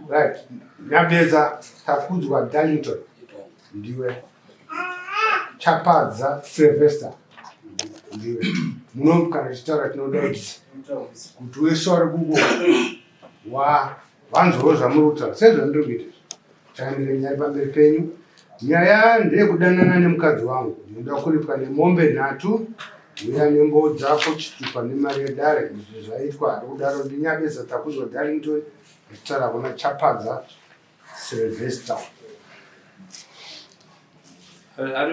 right nyambeza takudzwa darlington ndiwe chapadza sylvester ndiwe muno kana tichitaura tinodaidza kuti wese wari kuko wa vanzwawo zvamuri kutaura sezvandiri kuita Change nyari pamberi penyu. Nyaya ndeyekudanana nemukadzi wangu. Ndinoda kuripwa nemombe nhatu uya nembo dzako chitupa nemari yedare izvi zvaitwa ari kudaro ndinyabesa takuzwa darlington achitaura kuna chapadza silvester ari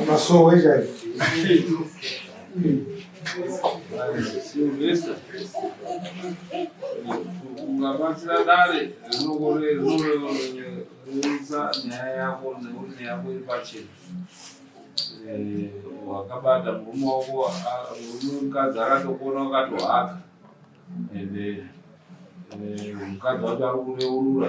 Amasowe chaiwo. Ungabatsira dare rinorerusa nyaya yako nekuti nyaya yako iri pachena. Eh, wakabata murume wako ah, murume mukadzi akatokuona wakatohaka ende eh, mukadzi wacho ari kureurura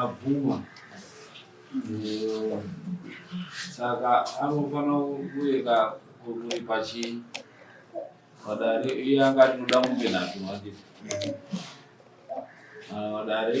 abvuma saka anofanira kuyeka kuripa chii padare iye anga atinoda mombe nhatu manje padare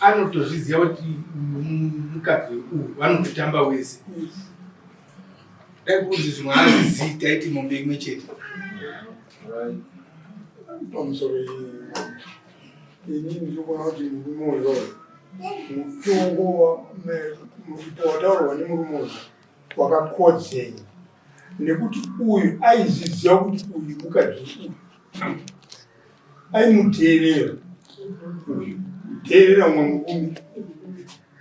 anotozviziva kuti mukadzi uyu vanototamba wese dai kunzi zvimwe azvizii taiti mombe imwe chete pamusoro ini ndikuona kuti murume uyo mutongo wataurwa nemurume uyo wakakodzei nekuti uyu aiziziva kuti uyu mukadzi uyu aimuteerera teerera umwe mukumi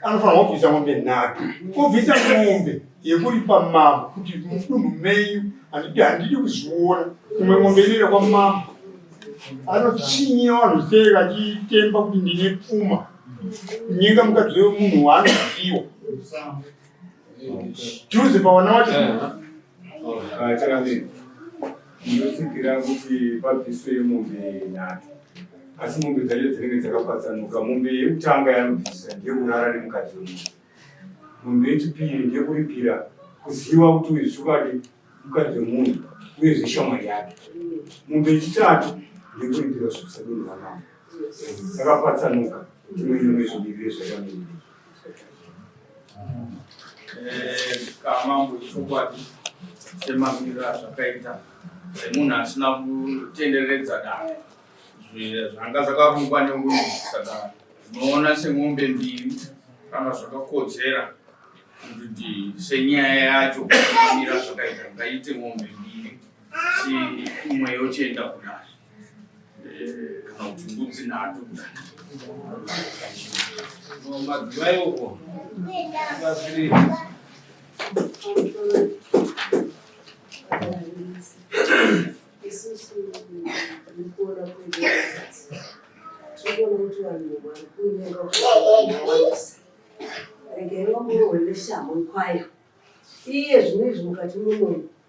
anofanirwa kubvisa mombe nhatu obvisa mombe yekuripa mambo kuti mudunhu menyu handidi handidi kuzviona imwe mombe inoenda kwamambo anochinye vanhu sei vachitemba kuti ndine pfuma nyenga mukadzi wemunhu waanoziwa juze pavana wacho Chakamira, ndinotsigira kuti pabviswe mombe nhatu, asi mombe dzacho dzinenge dzakapatsanuka. Mombe yekutanga yanobvisa ndekurara nemukadzi wemunhu, mombe yechipiri ndekuripira kuziva kuti uyu zvikadi mukadzi wemunhu uyezve shamwari yake. Mombe yechitatu ndekuripira zvekusadi nevanamo, dzakapatsanuka. Ndimwe imwe zvimirire zvakamira. Eh, kamambo chokwadi semamiriro azvakaita semunhu asina kutenderedza dare zvanga zvakarungwa neunhu saka zvinoona semombe mbiri kana zvakakodzera kuti senyaya yacho amira zvakaita ngaite mombe mbiri si imwe yochenda kudare regai vamurohwe neshamhu kwayo iye zvino izvi mukati mumwe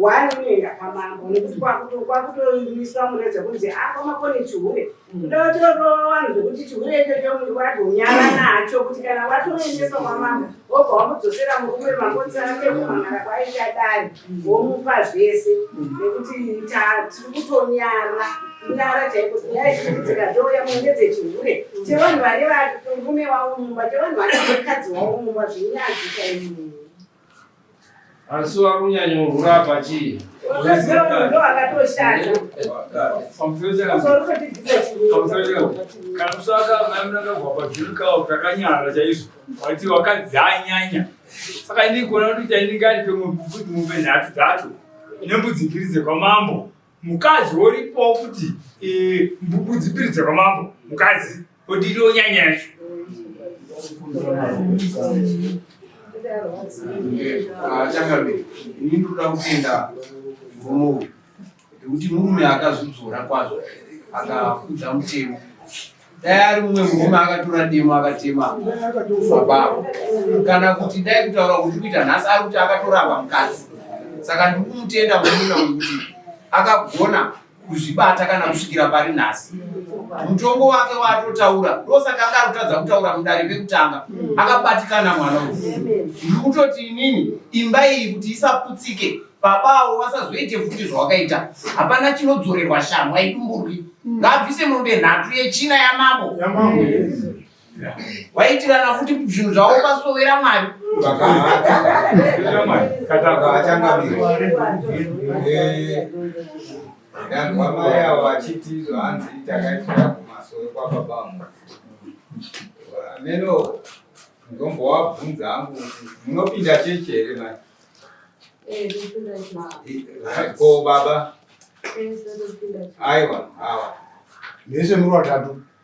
one unoenda kwamambo nekuti kwakutoiswa mune dzekunzi a kwamakoni chihure ndotorowa vanhu zvekuti chihure ichocho mndu wadonyara nacho kuti kana watoendeswa kwamambo wobva wamudzosera murume makonzi ake kumamara kwaita dai womupa zvese nekuti tiri kutonyara kunyara chaiko nyaya dzinoitika dzouya munge dzechihure chevanhu vane varume wavo mumba chevanhu vane mukadzi wavo mumba zvinyadzi chaii Asi wakunyanya urwura apa chii? Kana kusaka maimuranga gwapa zvirikaa takanyara chaizvo wati wakadzi anyanya saka ini kuona kuti chaindingati pemwe kuti mombe nhatu dzacho nembudzi mbiri dzekwamambo mukadzi woripo futi mbudzi mbiri dzekwamambo mukadzi Kuti ndo nyanya yacho. Chakabe, ini ndoda kutenda mvumo nekuti murume akazvidzora kwazvo akakudza mutemo dai ari mumwe murume akatora demo akatema mabavo kana kuti dai kutaura kuti kuita nhasi ari kuti akatoramba mukadzi saka ndiri kumutenda murume wekuti akagona kuzvibata kana kusvikira pari nhasi mutongo wake waatotaura ndosaka anga arikutadza kutaura mudare pekutanga akabatikana mwana uyu ndiri kutoti inini imba iyi kuti isaputsike baba avo vasazoite futi zvawakaita hapana chinodzorerwa shamwa idumburwi ngaabvise mombe nhatu yechina yamambo vaitirana futi zvinhu zvavo pasovera mwari ndanzwa mai avo vachiti zvaanzi takaitira kumasoro kwababa vangu ameno ndombowabvunza hangu munopinda chechi here mai eh, ko baba eh, aiwa awa mese muri vatatu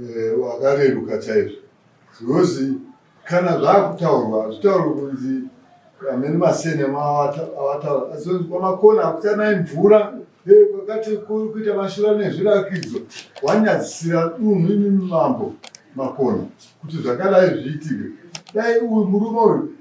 eh, wakareruka e, chaizvo because kana zvakutaurwa hazvitaurwi kunzi amene masene awataura asi kwamakona akutanai mvura kwakati eh, kuri kuita mashura nezvirakidzo wanyadzisira dunhu imi mambo makona kuti zvakadai zviitike dai uyu murume uyu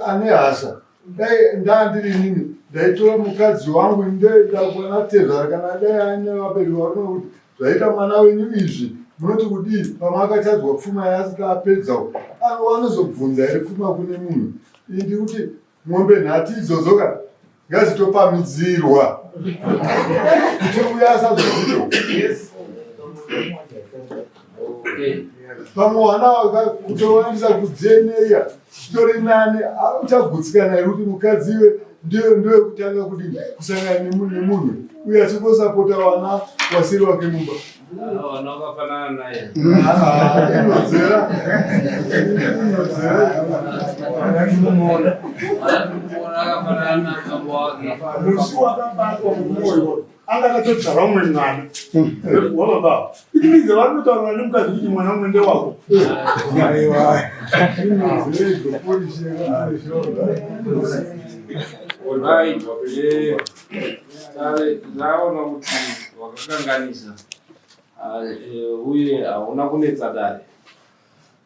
ane hasha dai ndandiri nini ndaitora mukadzi wangu ndoenda kwana tezvara kana dai ane vabereki varume kuti zvaita mwana wenyu izvi munoti kudii pamwe akatadzwa pfuma yaasika apedzawo anova anozobvunza here pfuma kune munhu ii ndiri kuti mombe nhati idzodzo ka ngazitopamidzirwa kuti uya asazozivo pamwe hwana kutowanisa kudzeneya Zvitori nani apa uchagutsikana here kuti mukadzi iwe ndiyo ndiyo kutanga kuti kusangana nemunhu uye achingosapota vana wasiri wake mumba musi wakabatwa mumwoyo anga akatodzara umwe mwana wababa iti mize vari kutaurira nemukadzi kuti mwana umwe ndewako ndaona kuti wakakanganisa uye hauna kunetsa dare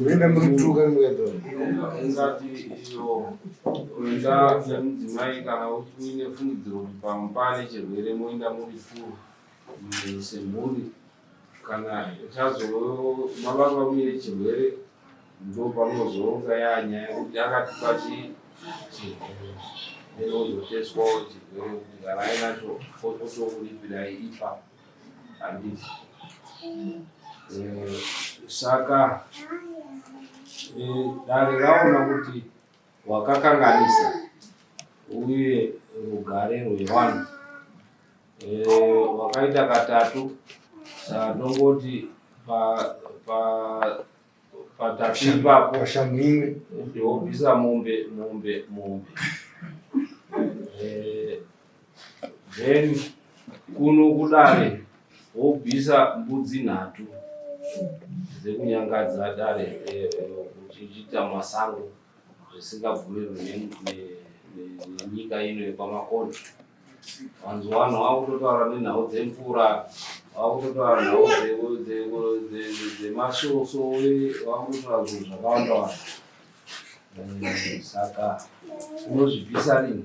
Uenda murituka muenda. Ungati iyo kuenda semudzimai kana uine fungidziro kuti pamupane chirwere moenda muri furu semhuri. kana chazomavanga uine chirwere ndopamozonga yanyaya kuti akatipa chizoteswawo chirwere kuti kana ainacho otokulipirai ipa handiti eh, saka eh, dare raona kuti hwakakanganisa uye rugare rwevanhu hwakaita eh, katatu sanongoti patatu ipapo ndiobvisa mombe mombe mombe then kuno kudare wobvisa mbudzi nhatu dzekunyangadza dare eh, eh, uchiita masango zvisingabvumirwi nenyika ino yekwamakona vanzi vanhu vakutotaura nenhau dzemvura vakutotaura nhau dzemasvoso vakutotaura zvinhu zvakawanda wanda eh, saka unozvibvisa rini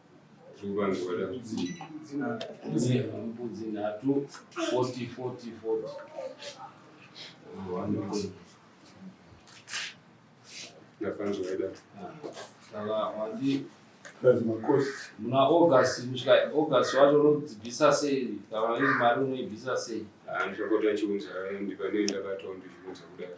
muna august kusvika august wacho unodzibvisa sei kana iri mari unoibvisa sei handichakota chiunza ndipanei ndakataura ndizviunza kudaro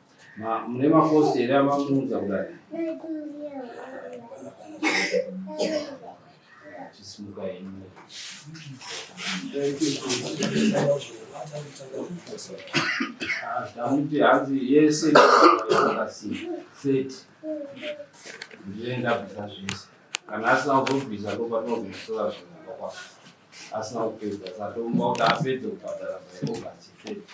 mune makosi here amamuudza kudai chisimuka henyu tamuti hanzi yese akasii thirty ndienda bvisa zvese kana asina kuzobvisa ndopatinozoisola zvinhu kwakwa asina kupedza satomba kuti apedze kubhadhara maigogasi thirty